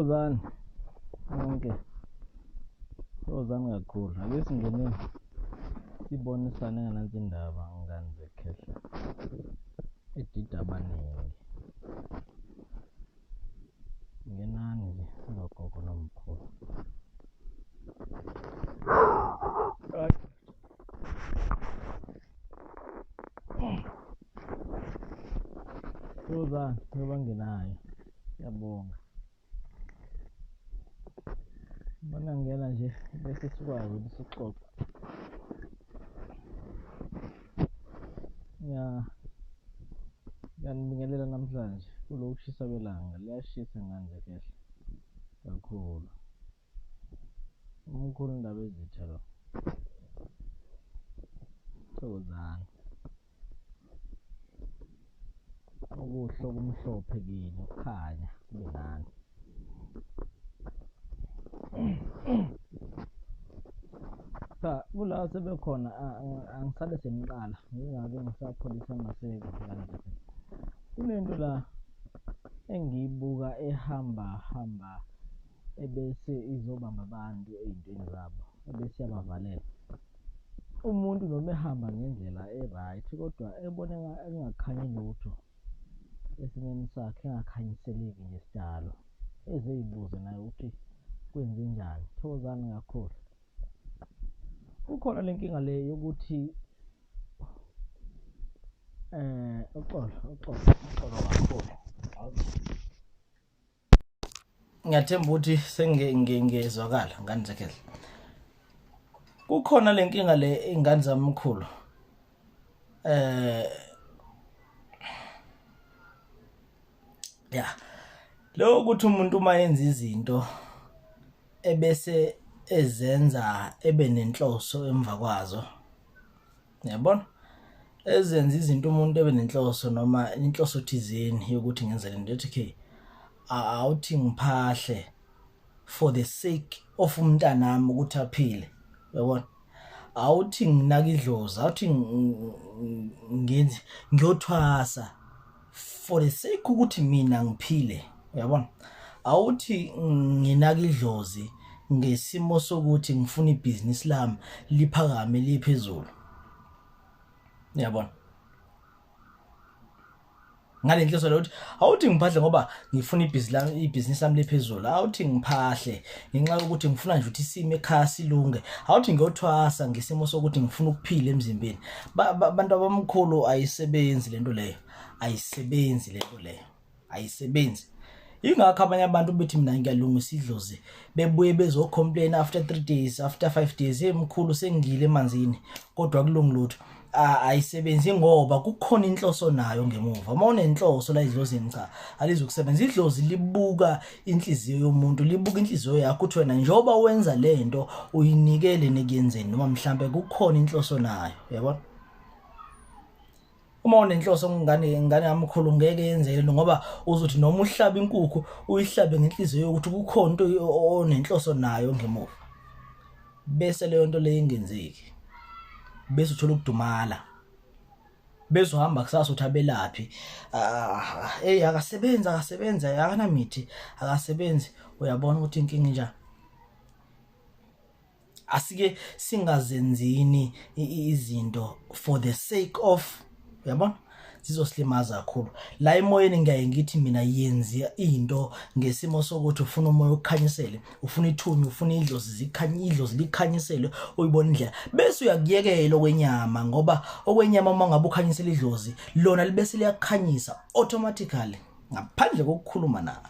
Thokozani nonke, thokozani kakhulu. Ake singeneni sibonisane nganansi indaba ngani zekhehla edida abaningi. Ngenani nje singogogo nomkhulu. Right. Rosa, ngiba bangenayo. Ngiyabonga. Mana ngena nje bese sikwazi ukuthi sixoxe. Ya. Ngiyanibingelela namhlanje kulokushisa kwelanga liyashisa nganje kehla kakhulu. Umkhulu indaba ezitha lo. Thokozani. Okuhle okumhlophe kini ukukhanya kube nani. Cha kula sebekhona angisale sengiqala ngingake ngisapholisa amaseko kanje. Kunento la engiyibuka ehamba hamba ebese izobamba abantu ey'ntweni zabo, ebese iyabavalela. Umuntu noma ehamba ngendlela e-right kodwa eboneka engakhanyi lutho esimeni sakhe, engakhanyiseleki nje sidalo, eze ey'buze naye ukuthi kwenzenjani, thokozani kakhulu. Kukhona le nkinga le yokuthi um uxolo, uxolo, uxolo kakhulu. ngiyathemba ukuthi sengizwakala ngane zekhehla kukhona le nkinga le ingane zamkhulu eh ya lo ukuthi umuntu uma yenza izinto ebese ezenza ebe nenhloso emva kwazo yabona ezenza izinto umuntu ebe nenhloso noma inhloso thizeni yokuthi ngenze le nto ethi ke awuthi ngiphahle for the sake of umntanami ukuthi aphile yabona awuthi nginaka idlozi awuthi ngenzi ngiyothwasa for the sake ukuthi mina ngiphile uyabona awuthi nginaka idlozi ngesimo sokuthi ngifuna ibhizinisi lami liphakame liphezulu uyabona ngalenhloso lokuthi awuthi ngiphahle ngoba ngifuna ibhizinisi lami liphezulu awuthi ngiphahle ngenxa yokuthi ngifuna nje ukuthi isimo ekhaya silunge awuthi ngiyothwasa ngesimo sokuthi ngifuna ukuphila emzimbeni abantu abamkhulu ayisebenzi lento leyo ayisebenzi lento leyo ayisebenzi ingakho abanye abantu bethi mina ngiyalungisa idlozi bebuye bezocomplain after three days after five days emkhulu sengile emanzini kodwa kulungi lutho a- ayisebenzi ngoba kukhona inhloso nayo ngemuva uma unenhloso la idlozini cha alizukusebenza idlozi libuka inhliziyo yomuntu libuka inhliziyo yakho ukuthi wena njengoba wenza le nto uyinikele nekuyenzeni noma mhlampe kukhona inhloso nayo yabona uma unenhloso ngane ingane yami khulu ngeke yenzeke lento ngoba uzothi noma uhlabe inkukhu uyihlabe ngenhliziyo yokuthi kukhona into onenhloso nayo ngemuva bese leyo nto leyo ingenzeki bese uthola ukudumala bezohamba kusasa uthi abelaphi ah, eyi akasebenzi akasebenzi akanamithi akasebenzi uyabona ukuthi inkinga injani asike singazenzini izinto for the sake of uyabona zizosilimaza kakhulu la emoyeni ngiyaye ngithi mina yenzi into ngesimo sokuthi ufuna umoya ukukhanyisele ufuna ithunya ufuna idlozi zikhanye idlozi likhanyisele uyibona indlela bese uyakuyekela okwenyama ngoba okwenyama uma ngabe ukhanyisela idlozi lona libese liyakukhanyisa automatically ngaphandle kokukhuluma nawe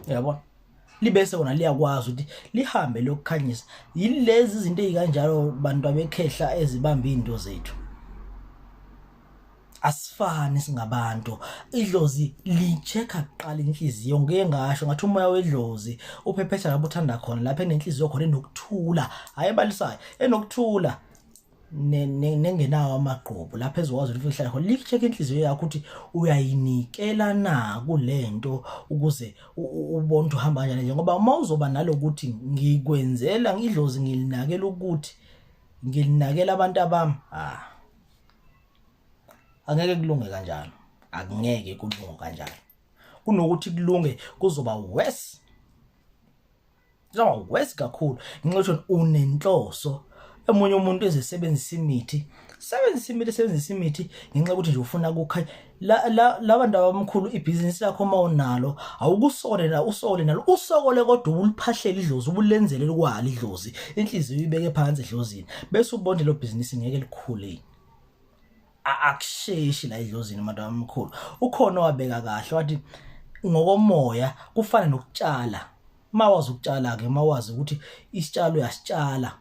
yabo libese wona liyakwazi ukuthi lihambe lokukhanyisa yilezi izinto ezikanjalo bantu abekhehla ezibamba izinto zethu asifani singabantu idlozi lichecka kuqala inhliziyo ngeke ngasho ngathi umoya wedlozi uphephetha lapho uthanda khona lapha enenhliziyo khona enokuthula hayi balisayo enokuthula nengenawo amagqubu lapha ezokwazi ukuthi uhlale khona licheck inhliziyo yakho ukuthi uyayinikela na kulento ukuze ubone ukuthi uhamba kanjani nje ngoba uma uzoba nalokuthi ngikwenzela ngidlozi ngilinakela ukuthi ngilinakela abantu abami ah angeke kulunge kanjalo akungeke kulunge kanjalo kunokuthi kulunge kuzoba worse Yo, wes kakhulu. Ngincotho unenhloso. Emunye umuntu ezesebenzisa imithi. Sebenzisa imithi, sebenzisa imithi ngenxa ukuthi nje ufuna kukhanya. La la labantu abamkhulu ibhizinisi lakho uma unalo, awukusole la usole nalo. Usokole kodwa uliphahlela idlozi, ubulenzele likwala idlozi. Inhliziyo ibeke phansi edlozini. Bese ubonde lo bhizinisi ngeke likhule. akusheshi la idlozini manje omkhulu ukhona wabeka kahle wathi ngokomoya kufana nokutshala mawazi ukutshala ke mawazi ukuthi isitshalo uyasitshala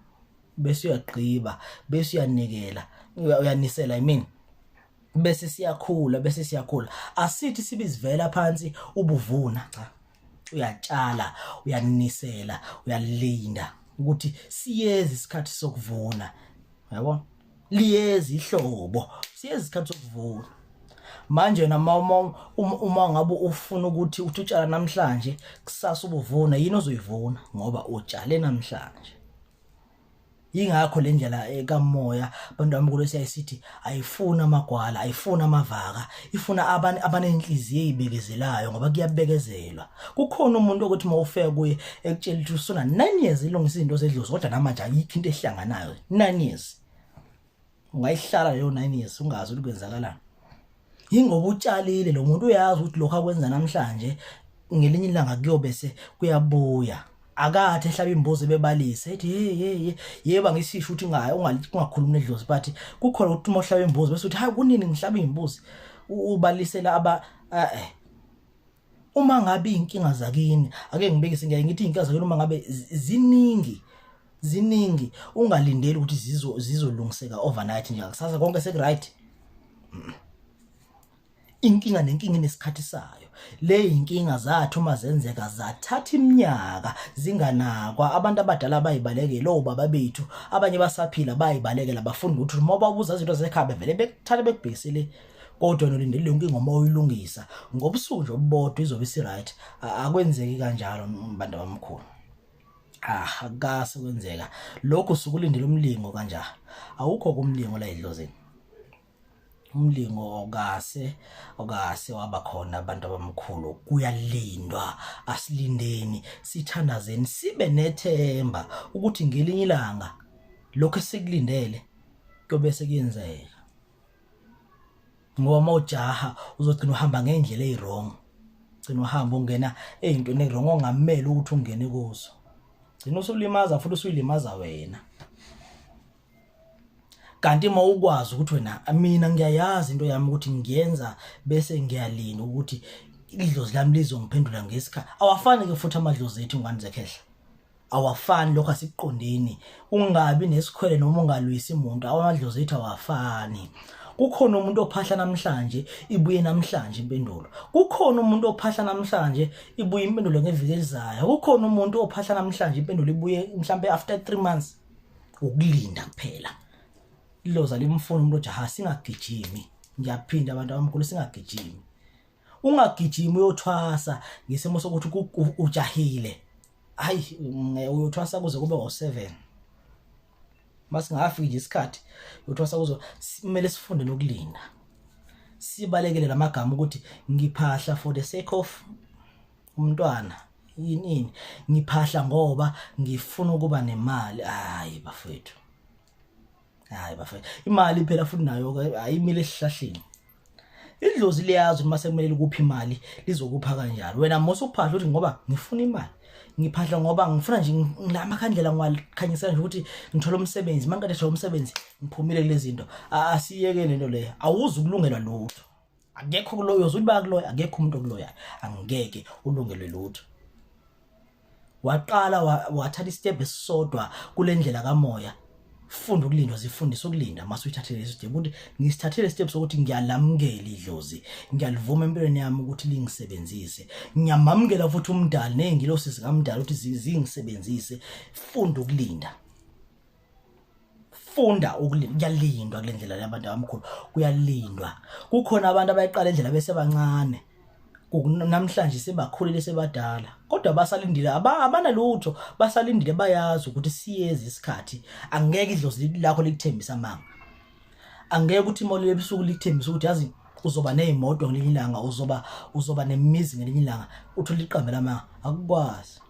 bese uyagqiba bese uyanikela uyanisela i mean bese siyakhula bese siyakhula asithi sibizivela phansi ubuvuna cha uyatshala uyanisela uyalinda ukuthi siyezi isikhathi sokuvuna yabo liyeza ihlobo siyeza isikhathi sokuvuna manje nama uma uma ngabe ufuna ukuthi uthi utshala namhlanje kusasa ubuvuna yini ozoyivuna ngoba utshale namhlanje ingakho le ndlela eh, kamoya abantu bami kulo siyayisithi ayifuna amagwala ayifuna amavaka ifuna abantu abanenhliziyo ezibekezelayo ngoba kuyabekezelwa kukhona umuntu ukuthi uma ufika kuye ekutshela ukuthi usuna 9 years ilungisa izinto zedlozi kodwa namanje ayikho into ehlanganayo 9 years ungayihlala leyo 9 years ungazi ukuthi kwenzakalani yingoba utshalile lo muntu uyazi ukuthi lokho akwenza namhlanje ngelinye ilanga kuyobe se kuyabuya akathi ehlaba imbuzi bebalise ethi hey hey yeba ngisisho ukuthi ngaye ungakhulumi nedlozi but kukhona ukuthi uma uhlaba imbuzi bese uthi hayi kunini ngihlaba imbuzi ubalisela aba eh uma ngabe inkinga zakini ake ngibekise ngiyaye ngithi inkinga zakini uma ngabe ziningi ziningi ungalindeli ukuthi zizo zizolungiseka overnight nje kusasa konke sekuright inkinga nenkinga inesikhathi sayo le inkinga zathu uma zenzeka zathatha iminyaka zinganakwa abantu abadala bayibalekele obaba bethu abanye basaphila bayibalekela bafunda ukuthi uma babuza izinto zekhaya bevele bekuthatha bekubhekisele kodwa nolindele yonke ingoma oyilungisa ngobusuku nje obubodwa izobe isiright akwenzeki kanjalo mbantu abamkhulu ah akase kwenzeka lokho sukulindela umlingo kanja awukho kumlingo la edlozini umlingo okase okase waba khona abantu abamkhulu kuyalindwa asilindeni sithandazeni sibe nethemba ukuthi ngelinye ilanga lokho esikulindele kuyobe sekuyenzeka ngoba uma ujaha uzogcina uhamba ngendlela eyiwrong gcina uhamba ungena eyintweni ewrong ongamele ukuthi ungene kuzo gcina usulimaza futhi usuyilimaza wena kanti uma ukwazi ukuthi wena mina ngiyayazi into yami ukuthi ngiyenza bese ngiyalinda ukuthi idlozi lami lizongiphendula ngesikhathi awafani ke futhi amadlozi ethu ngani zekhehla awafani lokho asikuqondeni ungabi nesikhwele noma ungalwisi muntu awamadlozi ethu awafani kukhona umuntu ophahla namhlanje ibuye namhlanje impendulo kukhona umuntu ophahla namhlanje ibuye impendulo ngeviki elizayo kukhona umuntu ophahla namhlanje impendulo ibuye mhlambe after 3 months ukulinda kuphela iloza limfuna umuntu ojaha singagijimi ngiyaphinda abantu abamkhulu singagijimi ungagijimi uyothwasa ngesimo sokuthi ujahile hayi uyothwasa kuze kube ngo-7 masingafiki nje isikhathi uyothwasa kuzo kumele sifunde nokulinda sibalekele lamagama ukuthi ngiphahla for the sake of umntwana yini ngiphahla ngoba ngifuna ukuba nemali hayi bafethu hayi bafethu imali phela futhi nayo ke ayimile esihlahleni idlozi liyazi uma sekumele likuphi imali lizokupha kanjalo wena mose uphahla uthi ngoba ngifuna imali ngiphahla ngoba ngifuna nje ngilama khandlela ngiwakhanyisa nje ukuthi ngithola umsebenzi uma ngiqeda thola umsebenzi ngiphumile kulezi zinto asiyeke lento leyo awuzi ukulungelwa lutho akekho kuloyo uthi bakuloya akekho umuntu okuloyayo angeke ulungelwe lutho waqala wathatha istep esisodwa kulendlela kamoya funda ukulindwa zifundisa ukulinda mase uyithathele lesi step ukuthi ngisithathele step sokuthi ngiyalamukela idlozi ngiyalivuma empilweni yami ukuthi lingisebenzise ngiyamamukela futhi umdali nezingilosi zikamdali ukuthi zingisebenzise funda ukulinda funda ukulinda kuyalindwa kule ndlela yabantu abamkhulu kuyalindwa kukhona abantu abayiqala indlela besebancane namhlanje sebakhulile sebadala kodwa basalindile abanalutho basalindile bayazi ukuthi siyezi isikhathi angeke idlozi lakho likuthembisa manga angeke ukuthi imoli yebusuku likuthembisa ukuthi yazi uzoba nezimoto ngelinye ilanga uzoba uzoba nemizi ngelinye ilanga uthi liqambe lamanga akukwazi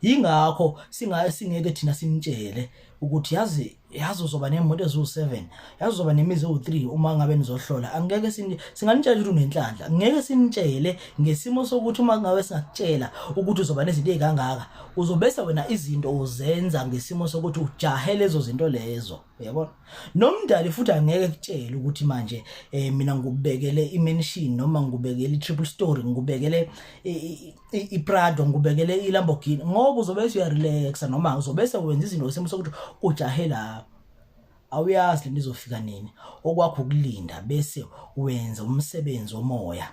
yingakho singaye singeke thina sinitshele ukuthi yazi yazi uzoba nemoto eziwu-7 yazi uzoba nemizi ewu-3 uma ngabe nizohlola angeke singanitshela ukuthi unenhlanhla ngeke sinitshele ngesimo sokuthi uma ngabe singakutshela ukuthi uzoba nezinto ey'kangaka uzobese wena izinto uzenza ngesimo sokuthi ujahe lezo zinto lezo uyabona nomndali futhi angeke kutshele ukuthi manje um mina ngikubekele imenshini noma ngikubekele i-triple story ngikubekele iPrado ngubekele iLamborghini ngoba uzobe usuyarelaxa noma uzobe sewenza izinto isimo sokuthi ujahe lapho awuyazi lento izofika nini okwakho ukulinda bese wenza umsebenzi omoya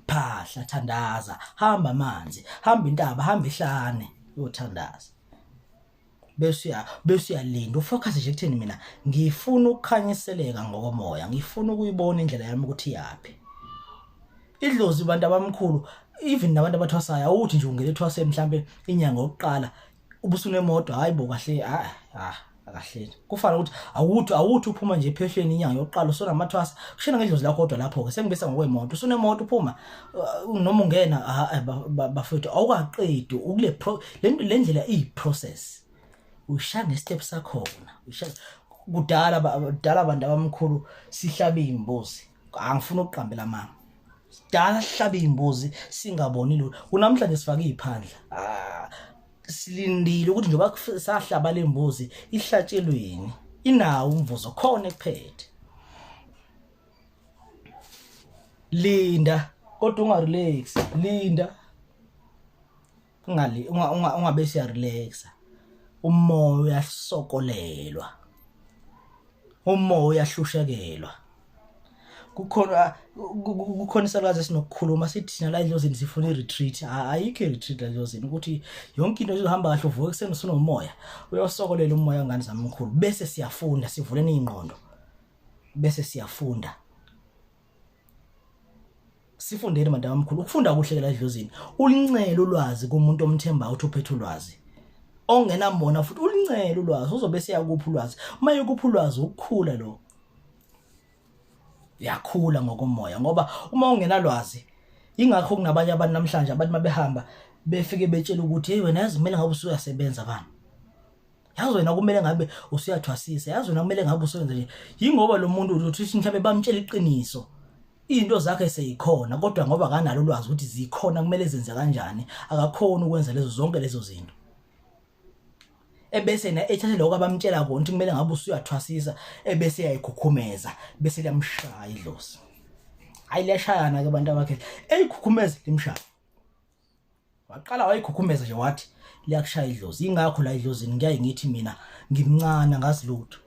phahla thandaza hamba amanzi hamba intaba hamba ihlane uyothandaza bese bese uyalinda ufocus nje kutheni mina ngifuna ukukhanyiseleka ngokomoya ngifuna ukuyibona indlela yami ukuthi yaphi idlozi abantu abamkhulu even nabantu abathwasayo awuthi nje ungele thwase mhlambe inyanga yokuqala ubusunemoto hayibo kahle ah ah akahleni kufana ukuthi awuthi awuthi uphuma nje ephehlweni inyanga yokuqala usonamathwasa kushena ngedlozi lakho kodwa lapho ke sengibisa ngokwemoto usunemoto uphuma uh, noma ungena eh, bafethu awukaqedi ukule le ndlela iyi process ushaya ngestep sakhona ushaya kudala kudala abantu abamkhulu sihlabe imbuzi angifuni ukuqambela mama sidala sihlabe iy'mbuzi singaboni lula kunamhlanje sifake iy'phandla ah, silindile ukuthi njengoba kuf- sahlaba le mbuzi ihlatshelweni inawo umvuzo khona ekuphethe linda kodwa ungarelax linda ungali ungabe siya relaxa umoya uyasokolelwa umoya uyahloshekelwa kukhona kukhona isalwazi esinokukhuluma sithi thina la endlozini sifuna i-retreat ayikho i-retreat la endlozini ukuthi yonke into izohamba kahle uvuke ekuseni usunomoya uyosokolela umoya ngane zami mkhulu bese siyafunda sivuleni iy'ngqondo bese siyafunda sifundeni madaba omkhulu ukufunda kuhle la edlozini ulincele ulwazi kumuntu omthembayo uthi uphethe ulwazi ongenambona futhi ulincele ulwazi uzobe seyakupha ulwazi uma yekupha ulwazi ukukhula lo yakhula ngokomoya ngoba uma ungenalwazi ingakho kunabanye abantu namhlanje abantu mabehamba befike betshela ukuthi hey wena yazi mina ngabe usuyasebenza bani yazi wena kumele ngabe usuyathwasisa yazi wena kumele ngabe usebenza nje yingoba lo muntu uthi mhlawumbe bamtshela iqiniso into zakhe seyikhona kodwa ngoba kanalo ulwazi ukuthi zikhona kumele zenze kanjani akakhona ukwenza lezo zonke lezo zinto ebese na ethathe lokho abamtshela kona ukuthi kumele ngabe usuyathwasisa ebese yayikhukhumeza bese liyamshaya idlozi hayi liyashayana ke abantu abakhe eyikhukhumeza limshaya waqala wayikhukhumeza nje wathi liyakushaya idlozi ingakho la idlozini ngiyaye ngithi mina ngimncane angazi lutho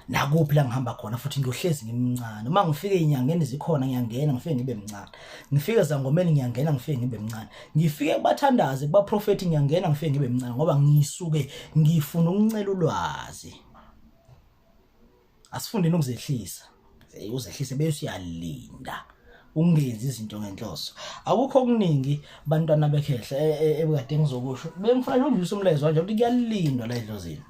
nakuphi la ngihamba khona futhi ngiyohlezi ngimncane uma ngifike inyangeni zikhona ngiyangena ngifike ngibe mncane ngifike zangomeni ngiyangena ngifike ngibe mncane ngifike kubathandazi kubaprofethi ngiyangena ngifike ngibe mncane ngoba ngisuke ngifuna ukuncela ulwazi asifundeni ukuzehlisa eh, uzehlise bese uyalinda ungenzi izinto ngenhloso akukho okuningi bantwana bekhehla e, e, ebukade ngizokusho bengifuna nje undlisa umlezo kanje ukuthi kuyalindwa la edlozini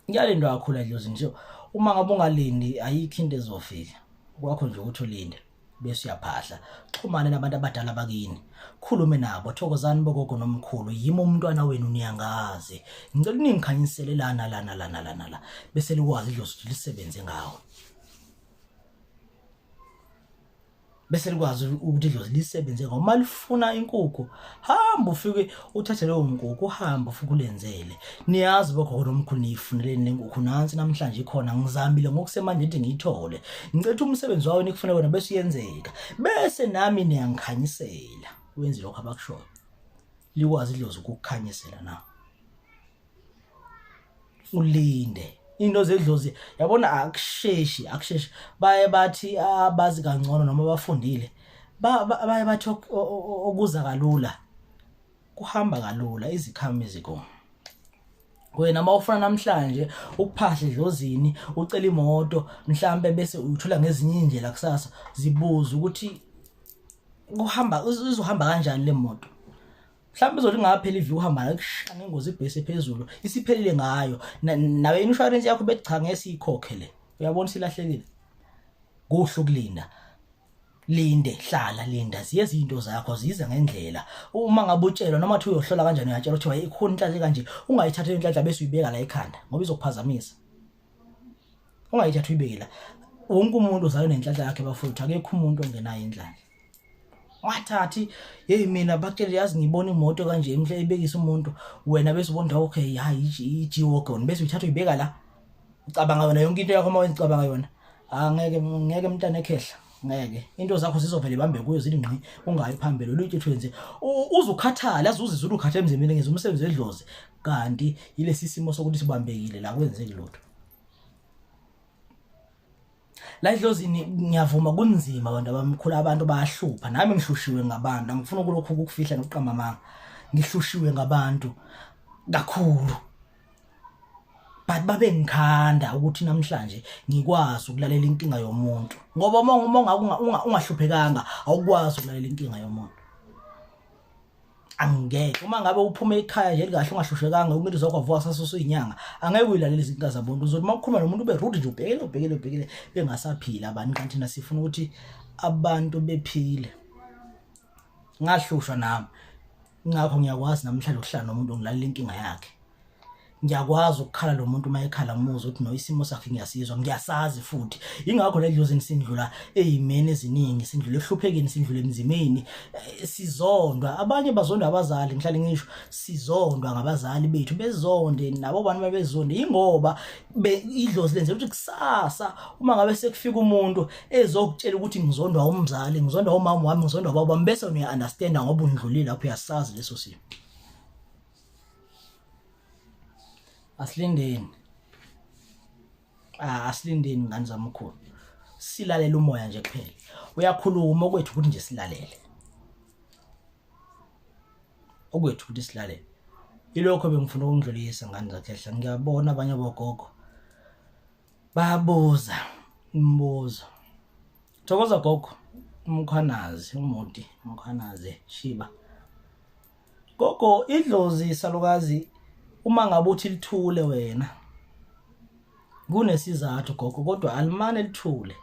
kuyalindwa kakhulu edlozini so uma ngabe ungalindi ayikho into ezofika kwakho nje ukuthi ulinde bese uyaphahla xhumane nabantu abadala bakini khulume nabo thokozani bogogo nomkhulu yimi umntwana wenu niyangazi ngicela ningikhanyisele lana lana lana lana la bese likwazi idlozi ukuthi lisebenze ngawo bese likwazi ukuthi idlozi lisebenze ngawo uma lifuna inkukhu hamba ufike uthathe leyo nkukhu uhamba ufike ulenzele niyazi bogogo nomkhulu niyifuneleni le nkukhu nansi namhlanje ikhona ngizamile ngokusemanje ukuthi ngiyithole ngicetha umsebenzi wawo nikufuna wena bese uyenzeka bese nami niyangikhanyisela wenze lokho abakushoyo likwazi idlozi ukukukhanyisela na ulinde into zedlozi yabona akusheshi akusheshi baye bathi abazi kangcono noma bafundile baye bathi okuza kalula kuhamba kalula izikhami ziko wena mawufuna namhlanje ukuphahle dlozini ucela imoto mhlambe bese uyithola ngezinye indlela kusasa zibuza ukuthi kuhamba uzohamba kanjani le moto mhlawumbe uzothi ungapheli iviki uhamba nakusha ngengozi ibhesi ephezulu isiphelile ngayo nawe insurance yakho bethi cha ngeke siyikhokhe le uyabona silahlekile kuhle ukulinda linde hlala linda ziye izinto zakho zize ngendlela uma ngabe utshelwa noma thi uyohlola kanjani uyatshelwa ukuthi wayikhona inhlanhla kanje ungayithatha inhlanhla bese uyibeka la ekhanda ngoba izokuphazamisa ungayithatha uyibeke la wonke umuntu uzalwe nenhlanhla yakhe bafowethu akekho umuntu ongenayo inhlanhla wathathi yeyi mina bakutshele yazi ngiyibona imoto kanje imhle ibekisa umuntu wena bese ubona okay hayi i-g-wagon bese uyithatha uyibeka la ucabanga yona yonke into yakho uma wenzicabanga yona angeke ah, ngeke mntana ekhehla ngeke into zakho zizovele ibambe kuyo zithi ngqi ungayi phambili oluthi twenze uzukhathala azuzizwe ukhathe emzimbeni ngenza umsebenzi wedlozi kanti yilesi simo sokuthi sibambekile la kwenzeki lutho la idlozini ngiyavuma kunzima abantu abamkhulu abantu bayahlupha nami ngihlushiwe ngabantu angifuni ukulokhu ukufihla nokuqamba amanga ngihlushiwe ngabantu kakhulu but babe ngikhanda ukuthi namhlanje ngikwazi ukulalela inkinga yomuntu ngoba uma ungahluphekanga awukwazi ukulalela inkinga yomuntu angeke uma ngabe uphume ekhaya nje likahle ungahlushekanga umuntu uzokwavuka sasusu inyanga angeke uyilalele izinkinga zabantu uzothi uma ukhuluma nomuntu ube rude nje ubhekele ubhekele ubhekele bengasaphila abantu kanti thina sifuna ukuthi abantu bephile ngahlushwa nami ngakho ngiyakwazi namhlanje ukuhlala nomuntu ongilalela inkinga yakhe ngiyakwazi ukukhala lo muntu uma ekhala ngimuzwa ukuthi no isimo sakhe ngiyasizwa ngiyasazi futhi ingakho le dlozi nisindlula eyimeni eziningi sindlula ehluphekeni sindlula emzimeni eh, sizondwa abanye bazondwa abazali ngihlale ngisho sizondwa ngabazali bethu bezonde nabo bantu babezonde ingoba idlozi lenze ukuthi kusasa uma ngabe sekufika umuntu ezokutshela ukuthi ngizondwa umzali ngizondwa umama wami ngizondwa baba wami bese uyaunderstanda ngoba undlulile lapho uyasazi leso simo asilindeni ah asilindeni ngani zamkhulu silalela umoya nje kuphela uyakhuluma okwethu ukuthi nje silalele okwethu ukuthi silalele ilokho bengifuna ukungidlulisa ngani zakhehla ngiyabona abanye bogogo babuza imibuzo thokoza gogo umkhwanazi umuti umkhwanazi shiba gogo idlozi salukazi uma ngabe uthi lithule wena kunesizathu gogo kodwa alimane lithule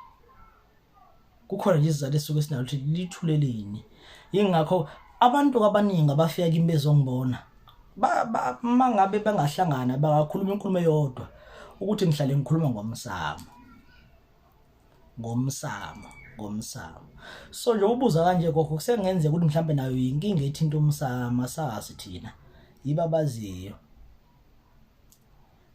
kukhona nje izizathu esuke sinalo ukuthi lithule lini ingakho abantu abaningi abafika kimi bezongibona ba- ba- uma ngabe bangahlangana bangakhuluma inkulumo eyodwa ukuthi ngihlale ngikhuluma ngomsamo ngomsamo ngomsamo so nje ubuza kanje gogo kusengenzeka ukuthi mhlambe nayo yinkinga ethinta umsamo asazi thina yiba baziyo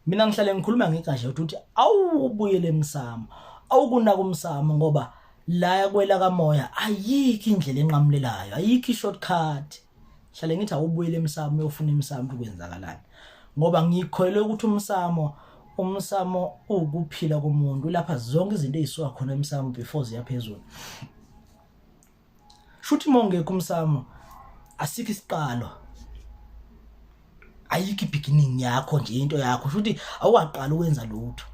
mina ngihlale ngikhuluma ngegashe ukuthi awubuyele emsamo awukunaka umsamo ngoba la kwela kamoya ayikho indlela enqamulelayo ayikho i-shortcut hlale ngithi awubuyele emsamo uyofuna emsamo ukwenzakalani ngoba ngikholelwe ukuthi umsamo umsamo ukuphila komuntu lapha zonke izinto ezisuka khona emsamo before ziyaphezulu shuthi mongekho umsamo asikho isiqalo ayikho ibeginning yakho nje into yakho shuthi awaqala ukwenza lutho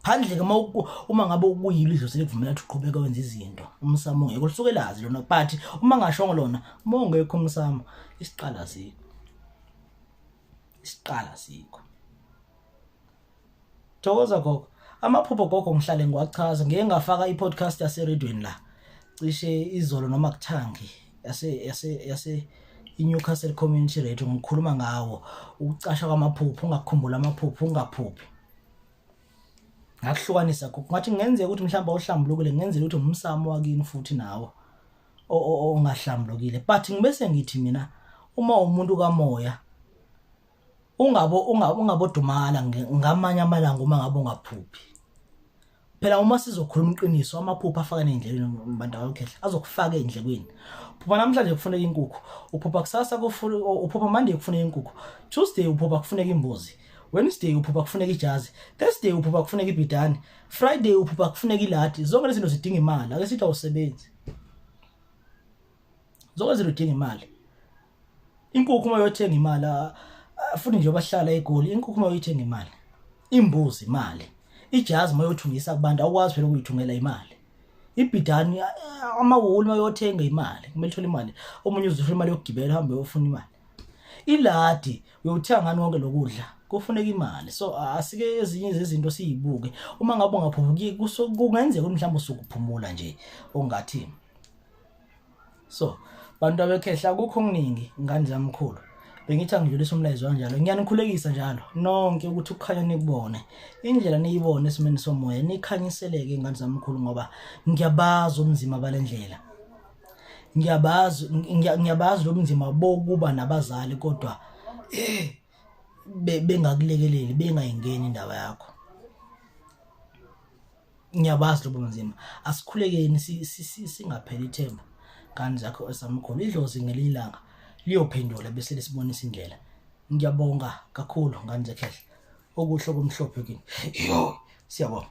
phandle ke uma uku- uma ngabe ukuyilo idlozi likuvumela ukuthi uqhubeke wenza izinto umsamo ungekho lisuke lazi lona but uma ngashongo lona uma ungekho umsamo isiqala asikho isiqala asikho thokoza gogo amaphupho gogo ngihlale ngiwachaza ngeke ngafaka i-podcast yaseredweni la cishe izolo noma kuthangi yase yase yase i-newcastle community radio ngikhuluma ngawo ukucasha kwamaphupho ungakhumbula amaphupho ungaphuphi ngakuhlukanisa gogo ngathi kungenzeka ukuthi mhlawumbe awuhlambulukile kungenzeka ukuthi umsamo wakini futhi nawo ongahlambulukile but ngibese ngithi mina uma umuntu kamoya ungabo ungabodumala ngamanye amalanga uma ngabe ungaphuphi phela uma sizokhuluma iqiniso amaphupha afaka endleleni abantu abakhehla azokufaka endlekweni phupha namhlanje kufuneka inkukhu uphupha kusasa kufuneka uphupha manje kufuneka inkukhu tuesday uphupha kufuneka imbuzi Wednesday uphupha kufuneka ijazi, Thursday uphupha kufuneka ibhidane, Friday uphupha kufuneka iladi. Zonke lezi zinto zidinga imali, ake sithi awusebenzi. Zonke lezi zinto zidinga imali. Inkukhu uma uyothenga imali, ah, ah, futhi nje bahlala eGoli, inkukhu uma uyithenga imali. Imbuzi imali. Ijazi uma uyothungisa kubantu awukwazi phela ukuyithungela imali. ibhidani ah, amawoli uma uyothenga imali kumele uthole imali omunye uzothola imali yokugibela uhambe uyofuna imali iladi uyothenga ngani konke lokudla kufuneka imali so asike ezinye zezinto siyibuke uma ngabe ungaphumuki kungenzeka ukuthi mhlawumbe usukuphumula nje ongathi so bantu abekhehla kukho okuningi ngani zamkhulu bengithi angidlulisa umlayezo kanjalo ngiyanikhulekisa njalo nonke ukuthi ukukhanya nikubone indlela niyibone esimeni somoya nikhanyiseleke ingane zamkhulu ngoba ngiyabazi ubunzima balendlela ngiyabazi ngiya- ngiyabazi lobunzima bokuba nabazali kodwa eh be- bengakulekeleli bengayingeni indaba yakho ngiyabazi lobo bunzima asikhulekeni si- si- si- singapheli ithemba ngane zakho esamkhulu idlozi ngelinye ilanga liyophendula bese lisibonisa indlela ngiyabonga kakhulu ngane zekhehla okuhle okumhlophe kini yo siyabonga